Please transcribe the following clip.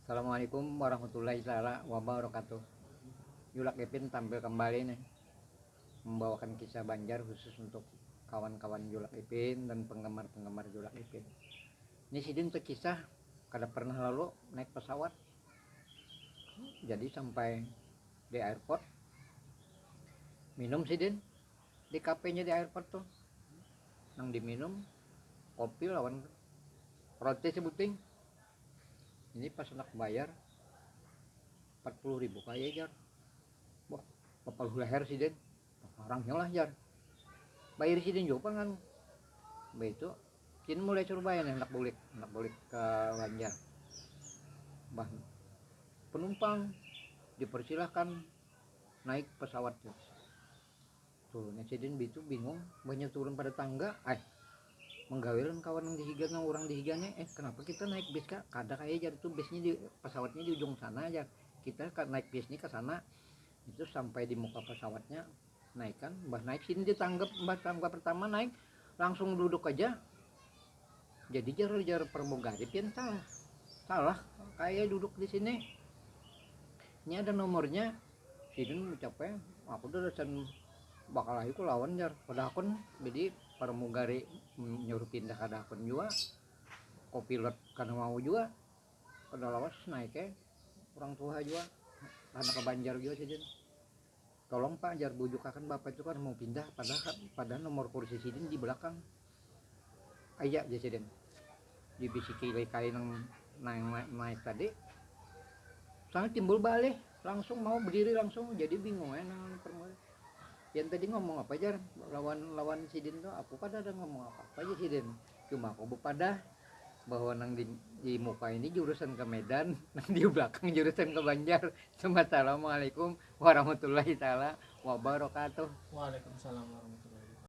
Assalamualaikum warahmatullahi taala wabarakatuh. Julak Ipin tampil kembali nih membawakan kisah Banjar khusus untuk kawan-kawan Julak Ipin dan penggemar-penggemar Julak Ipin. Ini sidin tuh kisah kada pernah lalu naik pesawat. Jadi sampai di airport minum sidin di kafenya di airport tuh nang diminum kopi lawan roti sebuting ini pas anak bayar 40 ribu kaya jar wah papaluh leher sidin orang lah jar bayar sidin juga kan itu sidin mulai suruh bayar anak bulik anak bulik ke Banjar bah penumpang dipersilahkan naik pesawat Tuh, nya sidin bitu bingung, mbahnya turun pada tangga, eh menggawi lawan kawan nang dihiga nang urang dihiganya, eh kenapa kita naik bis kak, kada kaya jar itu bisnya di pesawatnya di ujung sana jar, kita naik bis ni ke sana, itu sampai di muka pesawatnya naikan, mbah naik sini di tangga, mbah tangga pertama naik langsung duduk aja, jadi jar jar pramugari pian salah salah kayak duduk di sini ini ada nomornya sidin ucapnya aku udah lasan bakal ayu ku lawan jar pada akun jadi pramugari nyuruh pindah kada akun juga kopilot kada mau juga kada lawas naiknya orang tuha juga karena ke Banjar juga sidin Tolong pak jar bujukakan bapak itu kan mau pindah padahal padahal nomor kursi sidin di belakang aya jar sidin dibisiki ilai kain nang naik naik tadi sana timbul balih langsung mau berdiri langsung jadi bingung ya nang yang tadi ngomong apa jar lawan lawan sidin tuh aku kada ada ngomong apa apa aja sidin Cuma aku bepadah bahwa nang di, di muka ini jurusan ke Medan, nang di belakang jurusan ke Banjar. Assalamualaikum warahmatullahi taala wabarakatuh. Waalaikumsalam warahmatullahi wabarakatuh.